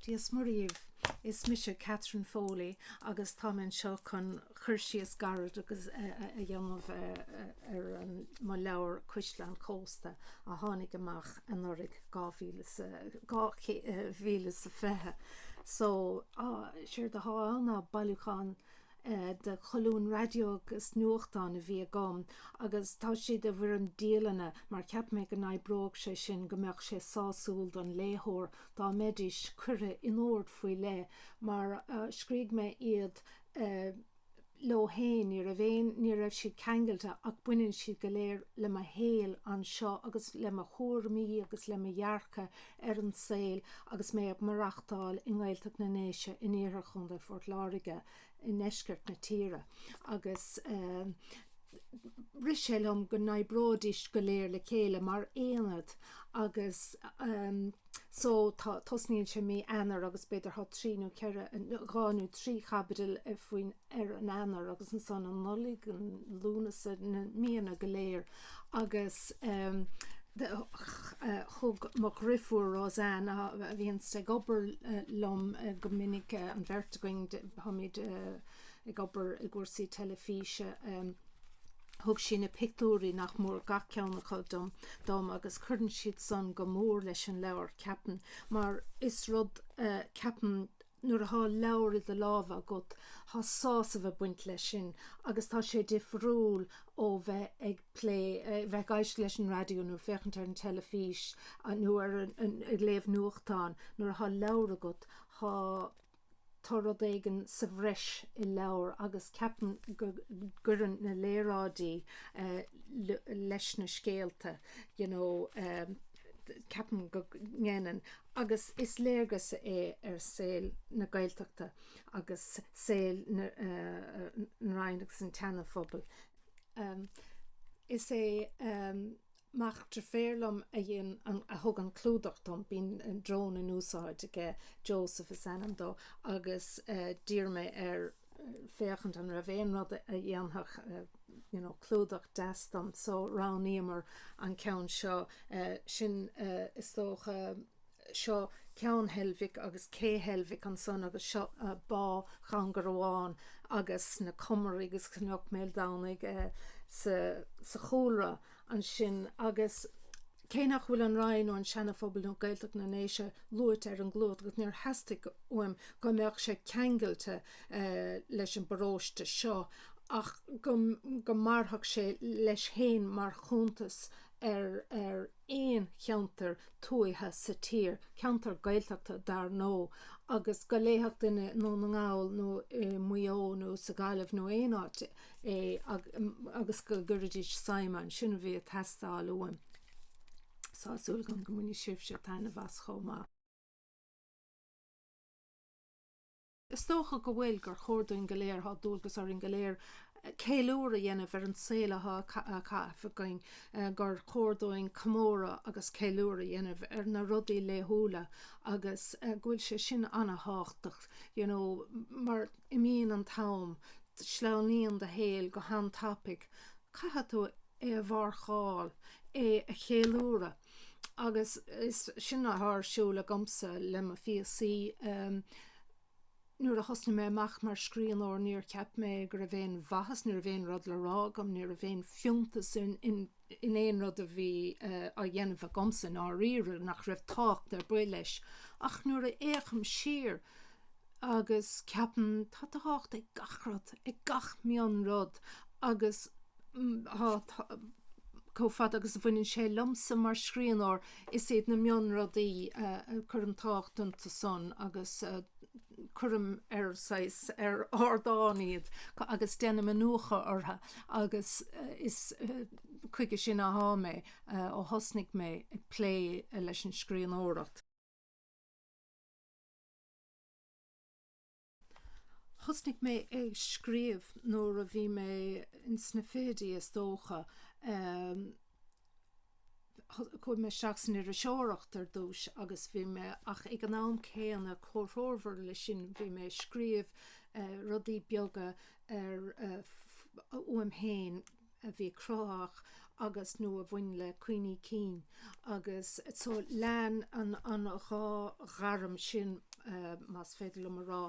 Dia's Muire dhíbh! Is mise Catherine Foley agus táim anseo chun cur síos gairid agus a dhéanamh ar mo leabhar Cuisle an Chósta a tháinig amach anuraidh, dhá mhíle sa, dhá mhíle is a fiche. So, séard atá ann ná bailiúchán de cholúin raidió agus nuachtán a bhí agam agus tá siad i bhfoirm dialanna mar cheap mé go n-oibreodh sé sin, go mbeadh sé sásúil don léitheoir dá mbeidís curtha in ord faoi leith mar a scrígh mé iad leo féin. Ní raibh aon ní raibh siad ceangailte ach baineann siad go léir le mo shaol anseo agus le mo thuairimí agus le mo dhearcadh ar an saol agus mé ag maireachtáil i nGaeltacht na nDéise in iarthar Chontae Phort Láirge i ndeisceart na tíre agus rith sé liom go n-oibreoidís go léir le chéile mar aonad agus so tá, tosnaíonn sé mí Eanáir agus b'fhéidir tá trí nó ceithre, dhá nó trí chaibidil faoin ar an Eanáir agus ansan an Nollaig, an Lúnasa, na míonna go léir agus thug mo dhrifiúr RoseAnn, a bhíonn sí ag obair liom go minic, an bheirt againn, táimid ag obair i gcúrsaí teilifíse, thug sí na pictiúirí nach mór gach ceann acu dom agus cuireann siad san go mór leis an leabhar, ceapaim, mar is rud, ceapaim, nuair atá leabhar i do lámha agat, tá sásamh ag baint leis sin agus tá sé difriúil ó bheith ag plé, bheith ag éisteacht leis an raidió nó ag féachaint ar an teilifís nó ar an, ag léamh nuachtán. Nuair atá leabhar agat, tá, tá rud éigin sa bhreis i leabhar agus ceapaim go gcuireann na léaráidí leis na scéalta, you know. ceapaim go ndéanann, agus is léargas é ar saol na Gaeltachta agus saol na Rinne agus an tSeana-Phobail. Is é mac driféar liom a dhein, a thug an clúdach dom, bíonn drón in úsáid aige, Joseph is ainm dó, agus d'iarr mé air, féachaint an raibh aon rud a dhéanfadh you know clúdach deas dom so roghnaíomar an ceann seo, sin is dócha, seo Ceann Heilbhic agus Cé Heilbhic ansan agus seo Bá Dhún Garbhán agus na Comaraigh agus Cnoc Mhaoldomhnaigh sa chúlra. ansin agus cé nach bhfuil an Rinn nó an Sean Phobal nó Gaeltacht na nDéise luaite ar an gclúdach agus níor theastaigh uaim go mbeadh sé ceangailte leis an bparóiste seo ach go mairfeadh sé leis féin mar chuntas ar aon cheantar tuaithe sa tír, ceantar Gaeltachta dar ndóigh, agus go léifeadh duine i nDún na nGall nó i Maigh Eo nó sa Ghaillimh nó aon áit i. é agus go gcuirfidís suim ann. Sin a bhí ag teastáil uaim. So tá súil agam go mbainfidh sibhse taitneamh as chomh maith. Is dócha go bhfuil, gur chóir dúinn go léir, tá dualgas orainn go léir ceiliúradh a dhéanamh ar an saol atá á chaitheamh againn, gur chóir dúinn comóradh agus ceiliúradh a dhéanamh ar na rudaí laethúla agus go bhfuil sé sin ana-thábhachtach you know mar. Imíonn an t-am, sleamhnaíonn do shaol go han-tapaidh, caithfidh tú é a mharcáil, é a cheiliúradh agus is sin atá ar siúl agamsa le mo phíosaí. Nuair a thosnaigh mé amach mar scríbhneoir níor cheap mé go raibh aon mhaitheas, ní raibh aon rud le rá agam, ní raibh aon fiúntas in in aon rud a bhí á dhéanamh agamsa i ndáiríre, nach raibh tábhacht ar bith leis. Ach nuair a fhéachaim siar agus ceapaim, tá tábhacht ag gach rud, ag gach mionrud agus tá, chomh fada agus a bhaineann sé liomsa mar scríbhneoir, is iad na mionrudaí a cuirim tábhacht iontusan agus. cuirim ar saghas ar ardán iad agus déanaim iniúchadh orthu agus is chuige sin athá mé ó thosnaigh mé ag plé leis an scríbhneoireacht. Thosnaigh mé ag scríobh nuair a bhí mé ins na fichidí is dócha. Chuaigh mé isteach san iriseoireacht ar dtús agus bhí mé, ach ag an am céanna, comhthreomhar le sin, bhí mé ag scríobh rudaí beaga ar, uaim féin, a bhí cruthaitheach agus, nó a bhain le cuimhní cinn. Agus so lean an dhá ghairm sin, más féidir liom a rá,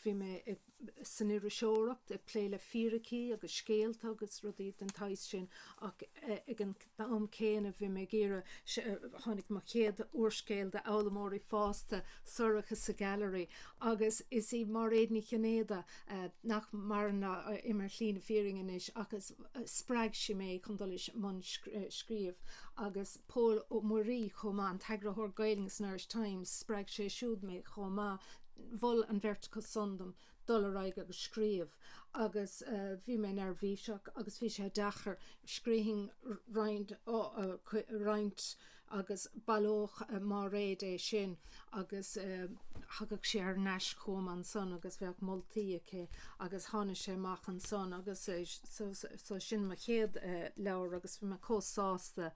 bhí mé ag. san iriseoireacht, ag plé le fíricí agus scéalta agus rudaí den tsaghas sin ach ag an am céanna bhí mé ag iarraidh, tháinig mo chéad úrscéal d'fhoghlaimeoirí fásta, Sorcha sa Ghailearaí agus is í Máiréad Ní Chinnéide, nach maireann, atá imithe ar shlí na fírinne anois ach spreag sí mé chun dul i mbun scríobh agus. Pól Ó Muirí chomh maith, an t-eagarthóir Gaeilge san Irish Times, spreag sé siúd mé chomh maith, mhol an bheirt acu san dom dul ar aghaidh agus scríobh agus bhí mé neirbhíseach agus bhí sé deacair, scríobhainn roinnt agus bhailíodh Máiréad é sin. agus thagadh sé thar n-ais chugam annsan agus bheadh moltaí aici agus tháinig sé amach annsan agus so sin mo chéad leabhar agus bhí mé comh sásta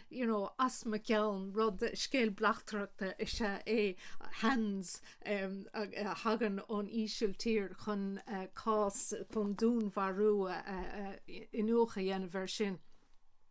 you know as mo cheann rud scéal bleachtaireachta is ea é Hands a thagann ón Ísiltír chun cás chun dúnmharú iniúchadh a dhéanamh air sin.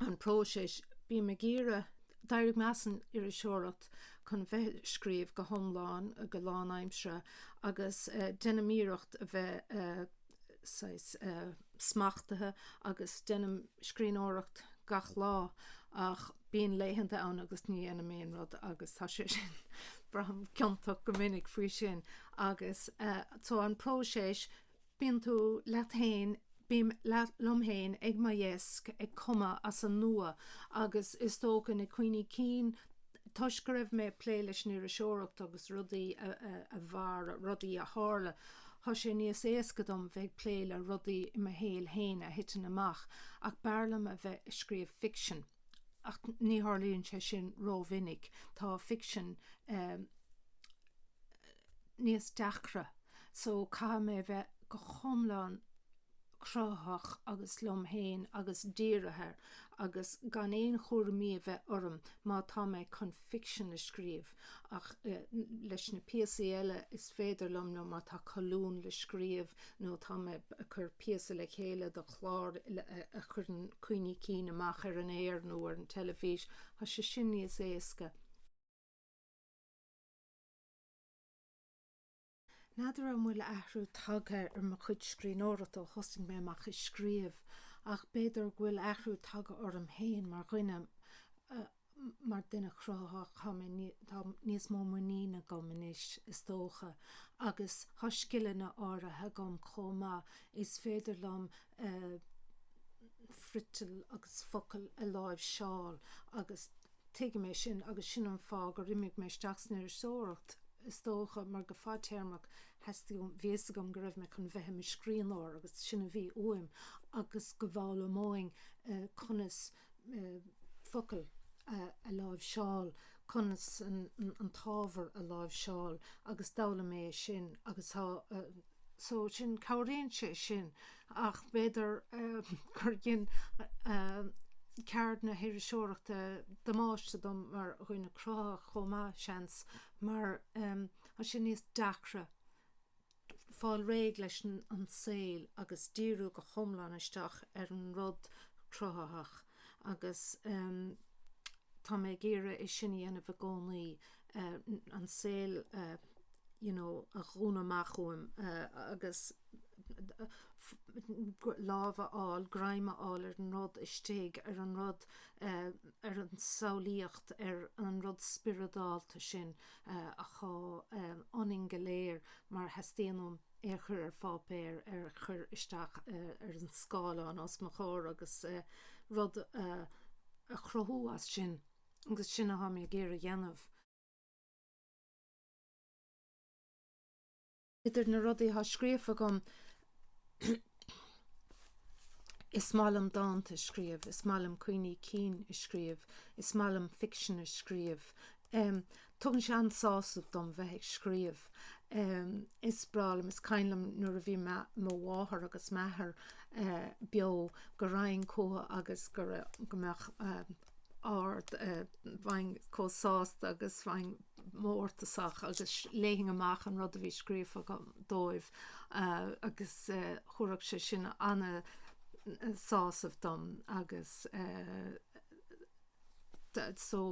an próiseas. Bím ag iarraidh, d'éirigh mé as an iriseoireacht chun bheith ag scríobh go hiomlán, go lánaimseartha agus déanaim iarracht a bheith saghas smachtaithe agus déanaim scríbhneoireacht gach lá ach bíonn laethanta ann agus ní dhéanaim aon rud agus tá sé sin, braithim ciontach go minic faoi sin agus, so, an próiseas. Bíonn tú leat fhéin, bím liom fhéin ag mo dheasc ag cumadh as an nua agus is dócha na cuimhní cinn toisc go raibh mé ag plé leis an iriseoireacht agus rudaí a mhair, rudaí a tharla, tá sé níos éasca dom bheith ag plé le rudaí i mo shaol fhéin a thiteann amach ach b'fhearr liom a bheith ag scríobh ficsin. ach ní tharlaíonn sé sin rómhinic, tá ficsean níos deacra so caithfidh mé bheith go hiomlán cruthaitheach agus liom féin agus dírithe agus gan aon chúraimí a bheith orm má tá mé chun ficsean a scríobh. Ach leis na píosaí eile is féidir liom, nó má tá colún le scríobh nó tá mé ag cur píosa le chéile do chlár a chuireann cuimhní cinn amach ar an aer nó ar an teilifís, tá sé sin níos éasca. N'fheadar an bhfuil athrú tagtha ar mo chuid scríbhneoireachta ó thosnaigh mé amach ag scríobh, ach b'fhéidir go bhfuil athrú tagtha orm féin mar dhuine, mar duine cruthaitheach. Tá mé, tá níos mó muiníne agam anois, is dócha, agus tá scileanna áirithe agam chomh maith is féidir liom friotal agus focail a láimhseáil agus tuigim é sin agus sin an fáth gur imigh mé isteach san iriseoireacht is dócha mar go fadtéarmach theastaigh, bhí a fhios agam go raibh mé chun bheith i mo scríbhneoir agus sin a bhí uaim agus go bhfoghlaimeoinn conas. focail a láimhseáil, conas an t-ábhar a láimhseáil agus d'fhoghlaim mé é sin agus tá, so sin, cabhraíonn sé sin ach b'fhéidir gur dhein ceard na hiriseoireachta damáiste dom mar dhuine cruthaitheach chomh maith, seans, mar tá sé níos deacra fáil réidh leis an saol agus díriú go hiomlán isteach ar an rud cruthaitheach agus tá mé ag iarraidh é sin a dhéanamh i gcónaí, an saol you know a dhúnadh amach uaim agus lámh a fháil, greim a fháil ar an rud istigh, ar an rud, ar an samhlaíocht, ar an rud spioradálta sin. atá ionainn go léir mar teastaíonn uaim é a chur ar pháipéar, é a chur isteach ar an scáileán os mo chomhair agus rud a chruthú as sin agus sin atá mé ag iarraidh a dhéanamh. Idir na rudaí atá scríofa agam, is maith liom dánta a scríobh, is maith liom cuimhní cinn a scríobh, is maith liom ficsean a scríobh. Tugann sé an-sásamh dom bheith ag scríobh. Is breá liom, is cuimhin liom nuair a bhí mo mháthair agus m'athair beo go raghainn chuchu agus go mbeadh. ard. Bheinn chomh sásta agus bheinn mórtasach agus léifinn amach an rud a bhí scríofa agam dóibh agus thugadh sé sin an-sásamh dom agus so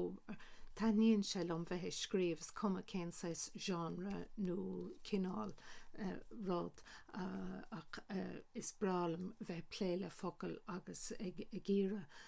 taitníonn sé liom bheith ag scríobh, is cuma cén saghas genre nó cineál rud ach is breá liom bheith ag plé le focail agus ag iarraidh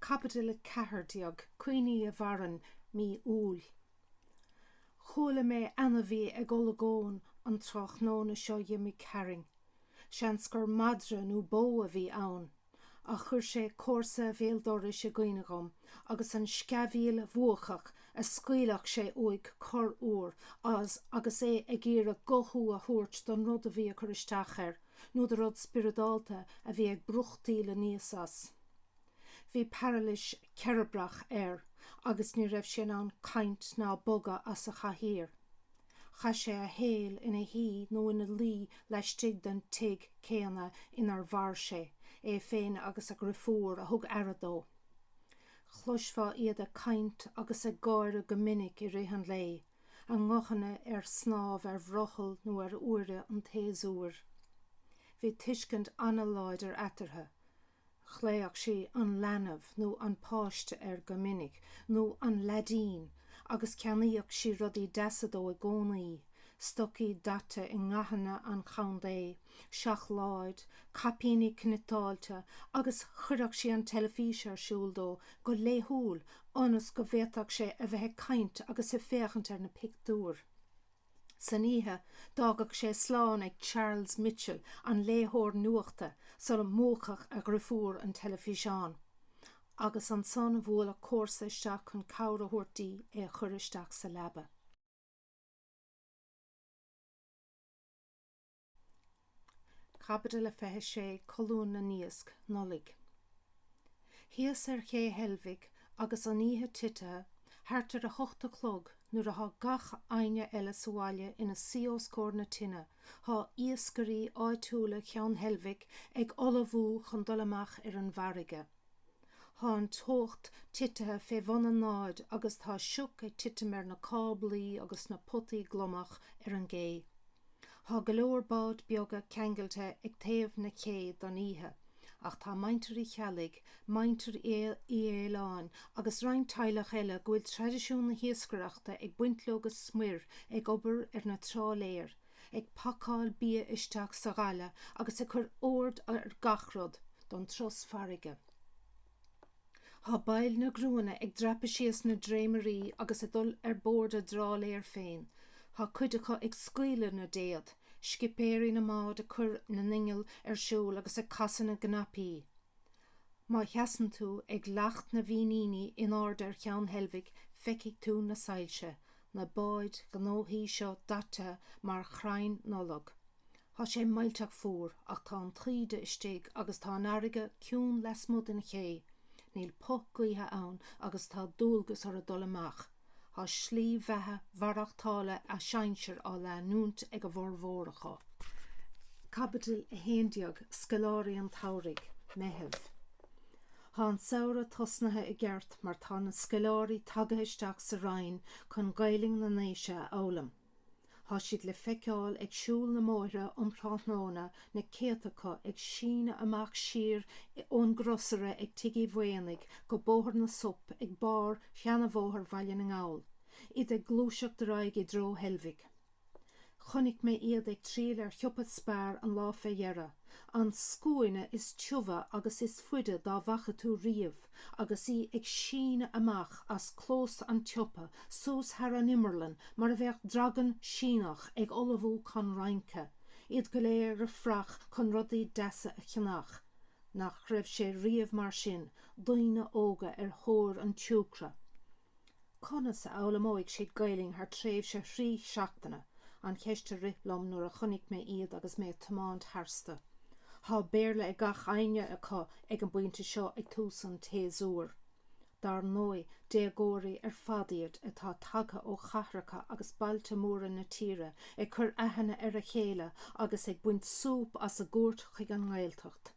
Caibidil 14, Cuimhní a Mhaireann, Mí Iúil. Chuala mé ainmhí ag olagón an tráthnóna seo dh'imigh tharainn. Seans gur madra nó bó a bhí ann. Ach chuir sé comharsa bhéal dorais i gcuimhne dhom, agus an sceamhaíl bhuacach a scaoilfeadh sé uaidh corruair agus é ag iarraidh guthú a thabhairt don rud a bhí ag cur isteach air. nó de rud spioradálta a bhí ag brúchtaíl aníos as. Bhí pairilis cheirbreach air agus ní raibh sé in ann caint ná bogadh as a chathaoir. Chaith sé a shaol ina shuí nó ina luí laistigh den tigh céanna inar mhair sé, é féin agus a dhrifiúr a thug aire dó. Chloisfeá iad ag caint agus ag gáire go minic i rith an lae, a nguthanna ar snámh ar bhrothall nó ar uaire an tséasúir. Bhí tuiscint an-láidir eatarthu, ghlaodhadh sí an leanbh nó an páiste air go minic, nó an leaidín, agus cheannaíodh sí rudaí deasa dó i gcónaí, stocaí daite i ndathanna an chontae, seacláid, caipíní cniotáilte agus chuireadh sí an teilifís ar siúl dó go laethúil ionas go bhféadfadh sé a bheith ag caint agus ag féachaint ar na pictiúir. San oíche, d'fhágadh sé slán ag Charles Mitchell, an léitheoir nuachta, sula múchfadh a dhrifiúr an teilifíseán, agus ansan bhuaileadh comharsa isteach chun cabhair a thabhairt di é a chur isteach sa leaba. Caibidil a 26 Colún na nIasc, Nollaig Thíos ar Ché Heilbhic agus an oíche titithe, thart ar a hocht a chlog, nuair athá gach éinne eile sa bhaile ina suí os comhair na tine, thá iascairí áitiúla Cheann Heilbhic ag ullmhú chun dul amach ar an bhfarraige. Thá an teocht titithe fé bhun an náid agus tá sioc ag titim ar na cáblaí agus na potaí gliomach ar an gcé. Thá go leor báid beaga ceangailte ag taobh na cé don oíche, ach tá Muintir Uí Cheallaigh, Muintir Uí Fhaoláin agus roinnt teaghlach eile go bhfuil traidisiún na hiascaireachta ag baint leo go smior ag obair ar na trálaeir, ag pacáil bia isteach sa ghaile agus ag cur ord ar gach rud don turas farraige. Thá baill na gcriúnna ag dreapadh síos na dréimirí agus ag dul ar bord a dtrálaeir féin. Thá cuid acu ag scaoileadh na dtéad, scipéirí na mbád ag cur na n-inneall ar siúl agus ag casadh na gcnaipí. Má sheasann tú ag Leacht na bhFíníní in airde ar Cheann Heilbhic feicfidh tú na soilse, na báid ghnóthacha seo daite mar chrainn Nollag. Thá sé millteach fuar ach tá an taoide istigh agus tá an fharraige ciúin lasmuigh den ché. Níl puth gaoithe ann agus tá dualgas orthu dul amach. Thá slí bheatha mhaireachtála a sinsear á leanúint ag a bhformhór acu. Caibidil 11, Scoláirí an tSamhraidh, Meitheamh Thá an samhradh tosnaithe i gceart mar tá na scoláirí tagtha isteach sa Rinn chun Gaelainn na nDéise a fhoghlaim. Tá siad le feiceáil ag siúl na mbóithre um thráthnóna, na céadta acu ag síneadh amach siar ón gcrosaire ag Tigh Uí Mhaonaigh go Bóthar na Sop ag barr Sheanabhóthar Bhaile na nGall, iad ag gluaiseacht ar aghaidh i dtreo Heilbhic. Chonaic mé iad ag triall ar shiopa Spar an lá fé dheireadh, an scuaine is tiubha agus is faide dá bhfaca tú riamh. agus í ag síneadh amach as clós an tsiopa suas thar an imeall mar a bheadh dragan Síneach ag ullmhú chun rince, iad go léir ar fraoch chun rudaí deasa a cheannach. Nach raibh sé riamh mar sin, daoine óga ar thóir an tsiúcra? Conas a fhoghlaimeoidh siad Gaelainn thar tréimhse thrí seachtaine? an cheist a rith liom nuair a chonaic mé iad agus mé ag tiomáint tharstu. Tá Béarla ag gach éinne acu ag an bpointe seo ag tús an tséasúir. Dar ndóigh, déagóirí ar fad iad atá tagtha ó chathracha agus bailte móra na tíre ag cur aithne ar a chéile agus ag baint súp as a gcuairt chuig an nGaeltacht.